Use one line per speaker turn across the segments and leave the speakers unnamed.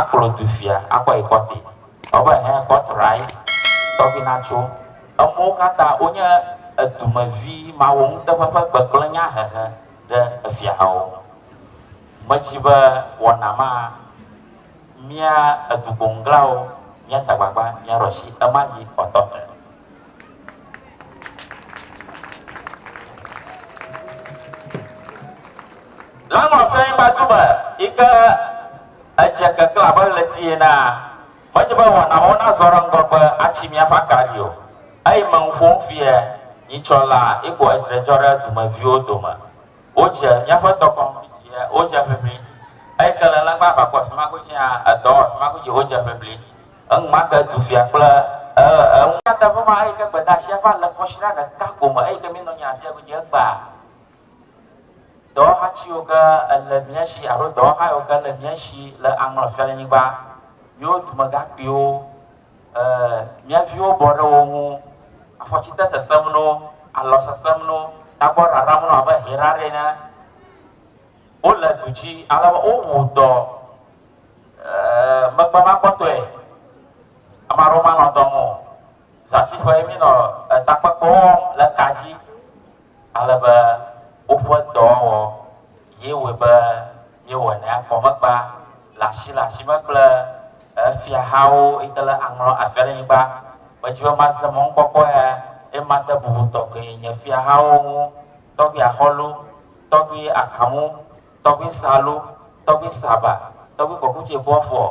Akplɔ du fia akɔe kɔte. Ɔbe hɛ kɔt rice tɔgbi na tso. Emuwo kata wo nye edume vi mawo nuteƒe ƒe gbegble nya hehe ɖe efia hawo. Me dzi be wɔna ma mia edugbo ŋglawo mia dzagbagba mia ɖɔshi ema dzi ɔtɔte. Lanɔ fɛn ba tu me yi ke edze keklẽ abe ɣleti enea, medze be wɔnawo nazɔ ɖe ŋgɔgbe atsi míaƒe akaɖi o. Eyi me ŋu ƒom fiae, nyitsɔ la, eko edzre dzɔ ɖe dumeviwo dome. Wodze míaƒe tɔkɔnu dzi he, wodze ʋiʋli. Eyi ke le lɛngbã aʋakɔ afi ma godzi hã, edɔ afi ma godzi wodze ʋiʋli. Enumake dufia kple eŋu. Nya teƒe ma eyike gbedeasia va le kɔsiɖa ɖeka ko me eyike minɔ nyina afia godzi egbea dɔwɔha tsiwo ke ele miasi alo dɔwɔha yiwo ke le miasi le aŋlɔ fia le nyigba miwo dumegakpuiwo e miaviwo bɔ ɖe wo ŋu afɔtsite sesem no alɔ sesem no tagbɔ raram no abe hera ɖe ene Wole du dzi ale be wowu dɔ megbe ma kpɔtɔe. Ame aɖewo manɔ dɔ me o. Zatsiƒe mi nɔ etakpekpe wɔm le ka dzi ale be woƒe dɔwɔwɔ ye wɔe be míewɔ ne akpɔ megba le asi le asi me kple efiahawo yi ke le aŋlɔ afiaɖenyigba. Medzi be mase mɔnukpɔkpɔ ya eye made bubu tɔxɛ nye fiahawo ŋu. tɔgbe Axɔlo, tɔgbe Akamu, tɔgbe Salo, tɔgbe Saba, tɔgbe Kɔkutse Bɔfɔ,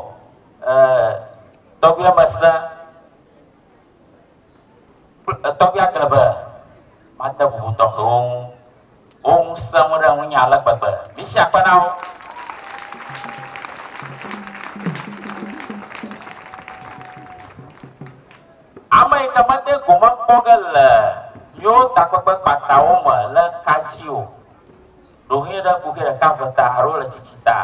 ɛɛ, tɔgbe Mese, tɔgbe Aglebe, made bubu tɔxɛwo ŋu. Wo ŋu sẽŋu ɖe ŋunye ale gbegbe. Misi akpe na wo. Ame yi ke mede gome kpɔ ge le yewo takpekpe kpatawo me le ka dzi o, ɖohĩ ɖe ku ke ɖeka ve ta alo le tsitsi ta,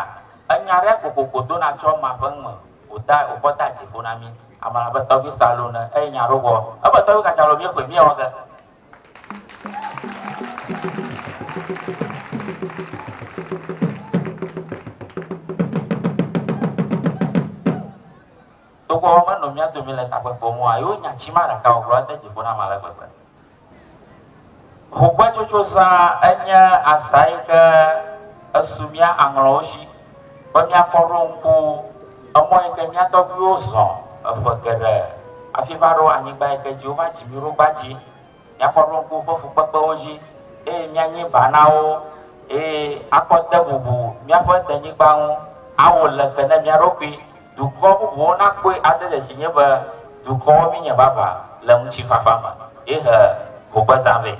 enya ɖe kokoko dona tso ema ƒe nume wòda wòkɔ da dzi ƒo na mí. Ame la be, Tɔgbui Salu ne eye nya ɖo wɔ. Ebe, Tɔgbui Kacalo, míexɔe míewɔ ge. Togbɔ be menɔ mía dome le takpekpea me oa, yewo nya tsi ma ɖaka wògblɔ ade dzi ƒo nam ale gbegbe. Ŋugbetsotso zã enye azã yi ke esu mía aŋlɔwo shi be míakɔ ɖo ŋku emɔ yi ke mía tɔgbuiwo zɔ eƒe geɖe hafi va ɖo anyigba yi ke dzi wova dzi mí ɖo gbã dzi. Míakpɔ ɖoŋku woƒe fukpekpewo dzi, eye míanye ba na wo, eye akpɔ te bubu míaƒe denyigba ŋu. Awo leke ne mía ɖokui, dukɔ bubuwo nakpɔe ade dzesi nye be dukɔwo míenye vavã le ŋutifafa me ye he hogbezã vɛ.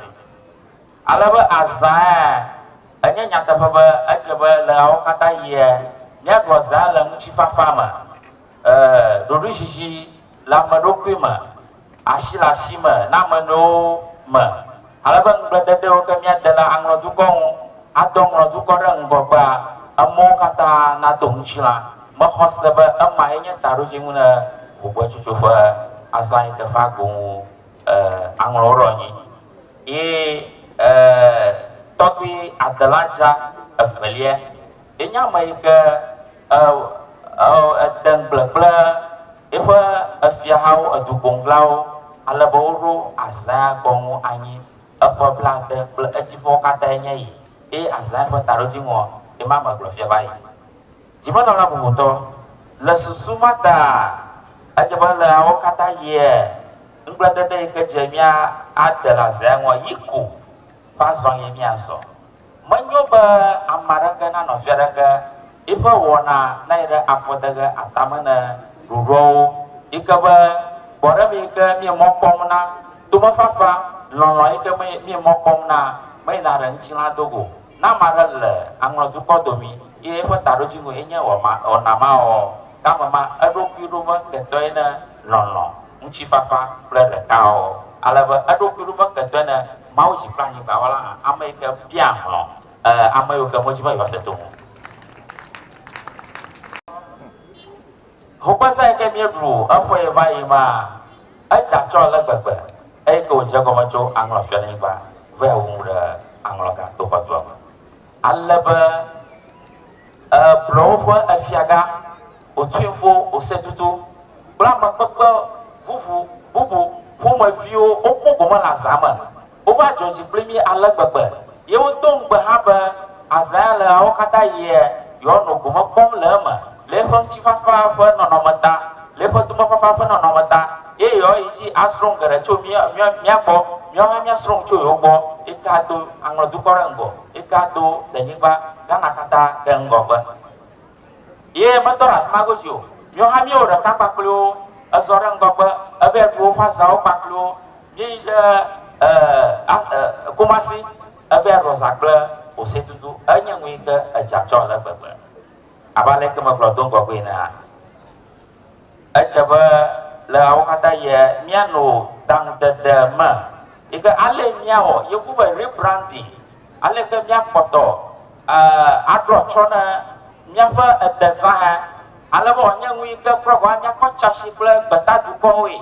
Ale be azãea, enye nyateƒe be edze be le ɣeawo katã ɣia, míaɖua zã le ŋutifafa me. Ee, ɖoɖoezizi le ame ɖokui me, asi le asi me na ame nɔewo me, ale be ŋugbledede yiwo ke míade la aŋlɔ dukɔ ŋu, adɔ ŋlɔ dukɔ ɖe ŋgɔgbea, emɔwo katã nado ŋutilã. Mexɔ se be ema ye nye taɖodzinu ɖe Gbɔgbɔdzitsotso ƒe azã yi ke ƒe agbo ŋu e aŋlɔ wo ɖe anyi. Ye e tɔgbui adelã dzra evelia Enye ame yi ke ede ŋugble kple eƒe efiahawo, edugboŋglawo, ale be woɖo Azaya gbɔ ŋu anyi eƒe blaade kple edzi ƒewo katã enye yi, eye Azaya ƒe taɖodziŋua ye ma me gblɔ fia va yi. Dzimenɔla bubutɔ, Le susu ma taa, edze be ele ɣeawo katã ɣie, ŋugbledede yi ke dze mía ade le Azaya ŋua yi ko ƒe azɔlie míazɔ. Menyo be ame aɖeke na nɔvi aɖeke eƒe wɔna nayi ɖe afɔdeghe atame ne ɖoɖoawo yi ke be gbɔɖeme yi ke mie mɔ kpɔm na, tomefafa, lɔlɔ̃ yi ke mie mɔ kpɔm na meyina ɖe ŋutilã do go. Ne ame aɖe le aŋlɔ dukɔ domi eye eƒe taɖodzinu ye nye wɔma wɔna maɔ, ke ame ma eɖokui ɖo me ketɔe ne lɔlɔ̃, ŋutifafa kple ɖekaɔ, ale be eɖokui ɖo me ketɔe ne Mawu dzi kple anyigba wɔla hã, ame yi ke bia hlɔ̃ ame yiwo ke medi be yewoase to ŋu. Ŋukpeza yi ke míeɖu eƒee va yi ma, edze atsɔ ale gbegbe eyi ke wòdze egɔme tso aŋlɔfialenyigba vae wu nu ɖe aŋlɔgãtoxɔdua me. Ale be e blɔ woƒe efiaga, o tsuimfo, o setutu kple ame kpekpe vuvu bubu ƒomeviwo wokpɔ gome le azã me. Wova dzɔ dzi kpli mí ale gbegbe, ye wodo ŋugbe hã be azãe le ɣeawo katã ɣie yewoanɔ gome kpɔm le eme. le eƒe ŋutifafa ƒe nɔnɔme ta, le eƒe tomefafa ƒe nɔnɔme ta, eye yewoayi edzi asrɔ̃ nu geɖe tso mía, mía, mía gbɔ, míawo hã míasrɔ̃ nu tso yewo gbɔ. Eke ado aŋlɔ dukɔ ɖe ŋgɔ, eke ado denyigba, Ghana katã ɖe ŋgɔgbe. Ye metɔ ɖe afi ma godzi o. Míawo hã míewɔ ɖeka kpakple wo, ezɔ ɖe ŋgɔgbe, eva yi ɖu woƒe azãwo kpakple wo. Míeyi ɖe e, a, e, Kumasi, eva yi ɖu azã kple Osetutu. Enye nu yi ke edze atsɔ ale gbegbe. Abe aleke megblɔ do ŋgɔgbee enea, edze be le awo katã yia, míanɔ taŋdede me yi ke ale míawɔ yevu be rebranding, aleke míakpɔtɔ aɖo atsyɔ̃ na míaƒe edezãhã ale be wòanye nu yi ke kura gɔ̃ hã kpɔ tsãsi kple gbetadukɔwoe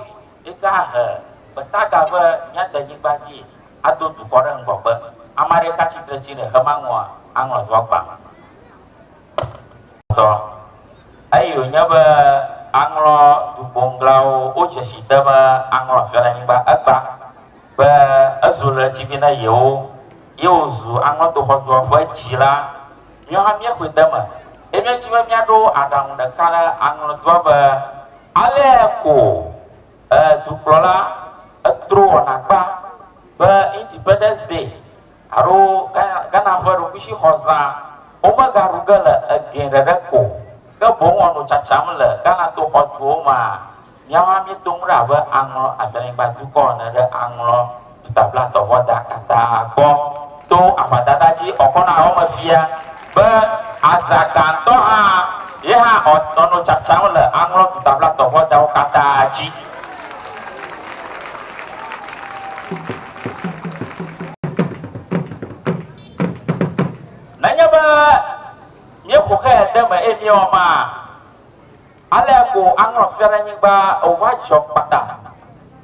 yi ke ahe gbeta ga be míade nyigba dzi ado dukɔ ɖe ŋgɔgbe. Ame aɖe ka tsitre tsi le xema nua aŋlɔ do agbalẽ. Tɔ. Eyi wònye be aŋlɔ dugboŋglawo wodze si te be aŋlɔ aƒe le anyigba. Egbã be ezu le tsi vi na yewo ye wòzu aŋlɔ doxɔzua ƒe dzila. Míawo hã míexɔe de eme ye míedi be míaɖo aɖaŋu ɖeka ɖe aŋlɔ dua be alea ko e dukplɔla etrowɔna kpa be Independence Day. Alo Ghana ƒe ɖokuishixɔ zã womegaɖu ge le egɛ ɖeɖe ko o, ke boŋ wòanɔ tsatsam le Ghana to xɔtuwo mea? Míawo hã míeto ŋu ɖe abe aŋlɔ afianyigba dukɔ ene ɖe aŋlɔ Duta Blatɔ vɔ da katã gbɔ to aʋadada dzi ɔkɔ na eme fia be azã gãtɔ hã ye hã ɔnɔ tsatsam le aŋlɔ Duta Blatɔ vɔ dawo katã dzi. Nenye be míexɔ xe ɖe eme eye míewɔ ma, ale ko aŋlɔ Fiaɖenyigba wòva dzɔ kpata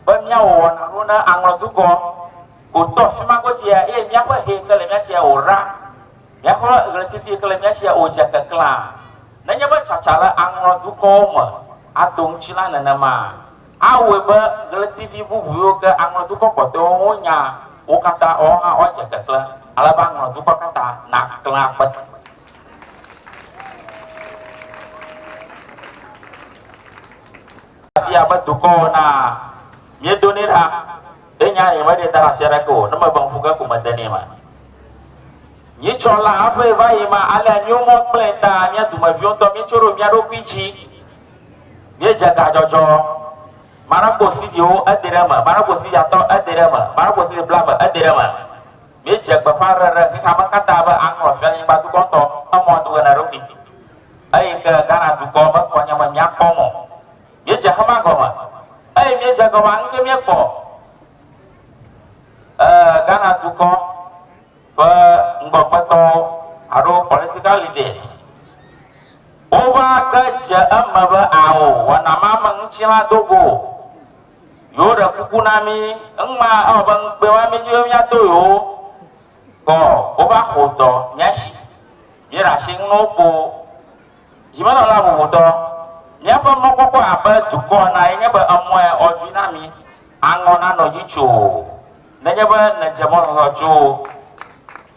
be míawɔ wɔna ɖo na aŋlɔ dukɔ gotɔ fi ma godzia eye míaƒe he yi ke le mía sia wòra, míaƒe ɣletivi yi ke le mía sia wòdze keklẽa. Nenye be tsatsa le aŋlɔ dukɔwo me ado ŋuti la nenema. Awɔe be ɣletivi bubu yiwo ke aŋlɔ dukɔ kpɔtɔewo ŋu nya wo katã woawo hã woadze keklẽ ale be aŋlɔ dukɔ katã naklẽ akpe. Afia be dukɔwo na miedo nɛ ɖa. Ɖe nya nye meɖe da ɖe afia ɖeke o ne mebe ŋku ke ko mede nɛ me. Nyitsɔ la hafi va yi ma alea nyomɔ kple ta mia dumeviwo ŋutɔ mietso ɖo mia ɖokui dzi. Míedze gadzɔdzɔ. Maɖakpo sidiwo ede ɖe eme, maɖakpo sidi atɔ ede ɖe eme, maɖakpo sidi blaeve ede ɖe eme. Míedze gbeƒãɖeɖe ɖe xexeame katã be aŋlɔ Fianyigba Dukɔtɔ emɔ do na eɖokui. Eyi ke Ghana dukɔ mekɔ nye me míakpɔ mɔ. Míedze xema gɔme. Eyi míedze egɔme, ŋke míekpɔ? Ɛɛ, Ghana dukɔ. ƒe ŋgɔgbetɔwo alo political leaders wova ge dze eme be ao wɔna ma me ŋuti la do go o. Yewo ɖe kuku na mí, ŋma ewɔ be ŋugbe ma mí dzi be míato yewo kɔ wova xo dɔ mía si. Míeɖe asi ŋu na wo kpo. Dzimenɔla vovotɔ, míaƒe mɔkpɔkpɔ abe dukɔ ena ye nye be emɔe ɔdui na mí, aŋɔ nanɔ dzi tso. Nenye be nèdze mɔzɔzɔ tso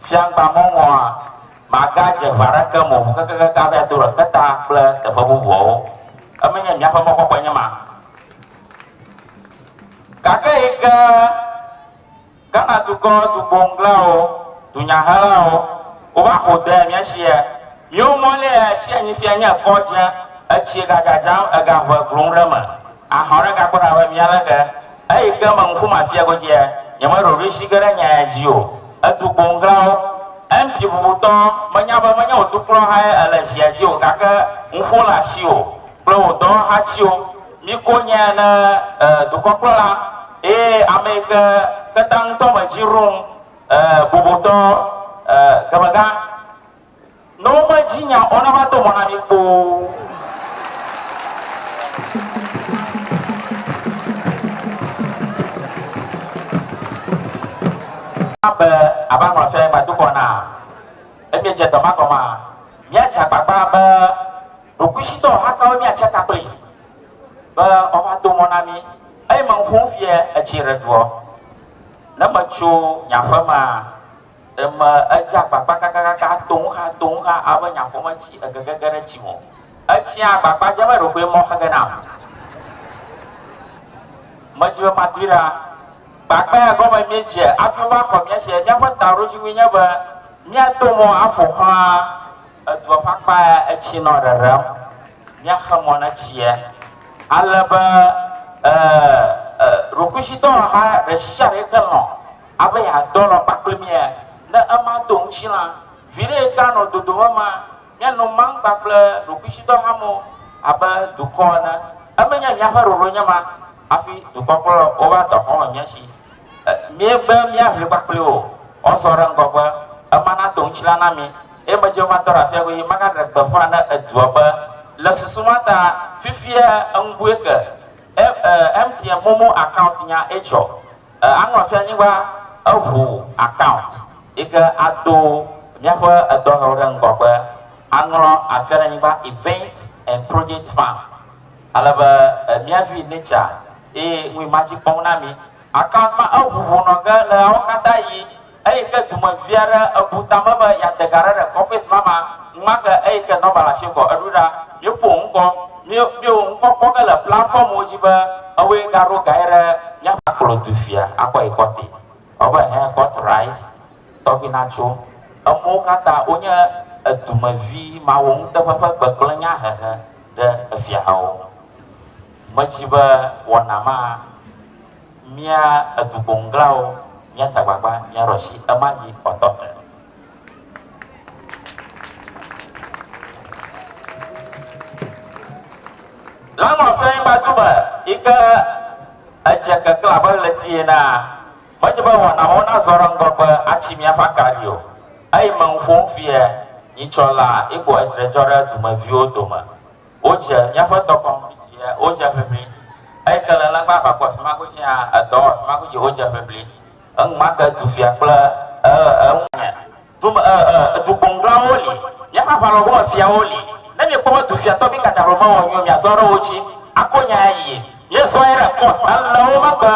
fiaŋgba mɔ ŋɔa, màgadze ʋe aɖeke me o ʋu kekeake hafi ado ɖeke ta kple teƒe bubuawo. Eme nye míaƒe mɔkpɔkpɔe nye ma. Gake yi ke Ghana dukɔ dugboŋglawo, dunyahelawo, wova xo de mía sie, míwo mɔ lé etsi anyi fia nye ekɔ dze, etsi gadzadzam, egaʋe glum ɖe eme. Ahɔ̃ ɖe gagblɔ ɖa be, Mía lege! Eyi ke me ŋku mafia godzia, nyemeɖo ɖoshi ge ɖe nya ya dzi o. Etu gboŋglawo. MP bubutɔ, menya be menye wò dukplɔhae èle zia dzi o, gake ŋuƒo le asiwò kple wò dɔwɔhatiwo. Miko nye ne e dukɔkplɔla eye ame yi ke kpeta ŋutɔ me dzi ɖum e bubutɔ e gemegã. Ne wome dzi nya o na mato mɔ na mi kpoo. be aba nɔ afia ba dukɔ na emi dze dɔ ma gɔma mia dze agbagba be ɖokuisitɔ hakawo mia tse kakple be ɔva do mɔ na mi eye me ŋu fie etsi ɖe doɔ ne me tso nyaƒe ma Eme edze agbagba kakakaka toŋxa toŋxa abe nyafɔmetsi egegege ɖe tsi me. Etsia agbagba dzem eɖokui mɔ xege nam. Medzi be matui ɖa. Gbagba ya gɔme míedze afi wova xɔ mía tse. Míaƒe taɖodzinui nye be míato mɔ aƒoxla edua ƒe akpa ya etsi nɔ ɖeɖem. Míaxe mɔ ne tsia ale be e e ɖokuitsidɔwaha ɖesiaɖe yike lɔ̃ Ame ya dɔnɔ kpakple mia ne ema do ŋutsi la, viɖe yi ke anɔ dodom ema, miano maŋgba kple ɖokuitsidɔ hame abe dukɔ ene. Emenye miaƒe ɖoɖo nye ma hafi dukɔkplɔlawo va dɔ xɔme mia si. Miebe miaʋli kpakple wo o, zɔ ɖe ŋgɔgbe, ema nado ŋutsi la na mi, eye medze be matɔ ɖe afia godzi magaɖe gbeƒã ne edua be, Le susu ma ta, fifia eŋu bue ke MTN momo account nya etsɔ. E anu afia anyigba eʋu account yike ado miaƒe edɔhɛwo ɖe ŋgɔgbe aŋlɔ afia ɖe anyigba events and project fund ale be e mia vi nature eye ŋui ma dzi kpɔm na mi. Account ma eʋu ʋu nɔ ge le ɣeawo katã ɣi. Eyi ke dume vi aɖe ebu tame be yeade ga aɖe ɖe kɔfɛs ma me enumake eyi ke nɔba le asi kɔ eɖo ɖa. Míeƒo wo ŋkɔ. Míe, míe wo ŋkɔ kpɔ ge le platfɔmwo dzi be ewoe gaɖo gae ɖe míaƒe. Akplɔ dufia akɔ yi kɔte. Ewɔ abe hɛn kɔt rais tɔgbi natso. Emɔwo katã wonye edumevi mawo nuteƒe ƒe gbegblẽ nya hehe ɖe efiahawo ŋu. Medzi be wɔna ma. Mía edugboŋglawo, míatsa agbagba, míaɖo asi ema dzi kpɔtɔ me. Le Nɔsɛnyigba du me yi ke edze keklẽ abe ɣleti enea, medze be wɔnawo nazɔ ɖe ŋgɔgbe atsi míaƒe akaɖi o. Eyi me ŋu ƒom fiae, nyitsɔ laa yi ko edzre dzɔ ɖe dumeviwo dome. Wodze míaƒe dɔ kɔm dzi hã, wodze ʋiʋli. Eyi ke le legba va ku afi ma godzi hã, edɔ wɔ afi ma godzi wodze ʋiʋli. Eŋu ma ke du fia kple eŋu me. Du me du gboŋglawo li, míaƒe aʋalɔwo gome fiawo li. Ne míekpɔ be du fia tɔgbi ka dzro mewɔ nyuie o, míazɔ ɖe wo dzi ako nya ayi. Míezɔe ɖe kɔt ele wo megbe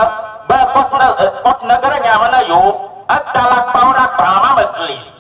be kɔt ne kɔt nege ɖe nya me na yewo. Eda alakpawo ɖe agbalẽ ma me gli.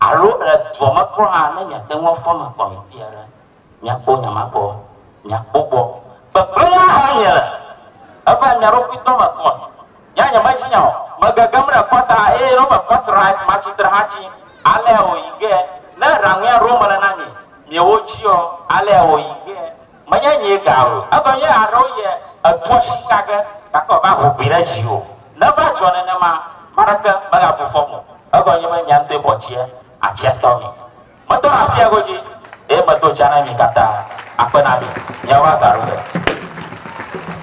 Alo le dua me kura hã, ne miate ŋu afɔme kɔmiti aɖe, miakpɔ nyamakpɔ, miakpɔ gbɔ. Gbegblẽa ha miele, eva mia ɖokui tɔ me kɔt. Nya nyemeshi nya o. Megegem ɖe kɔta eye ne wome kɔt rice matsitre hã tsi, alea wòyi ge. Ne raŋuia ɖom mele na mi, miewo tsiɔ, alea wòyi ge. Menye nyee ga o. Egɔ nye aɖewo yɛ etua shika ge gake wòava ʋu gbi ɖe dzi o. Ne eva dzɔ nenema, ame aɖeke megabu fɔm o. Egɔ nye be mia ŋutɔe bɔ tsia, atsia tɔ mi. Metɔ ɖe afia godzi eye medo tsia na mi katã. Akpe na mi. Miawo va zã ɖo ge.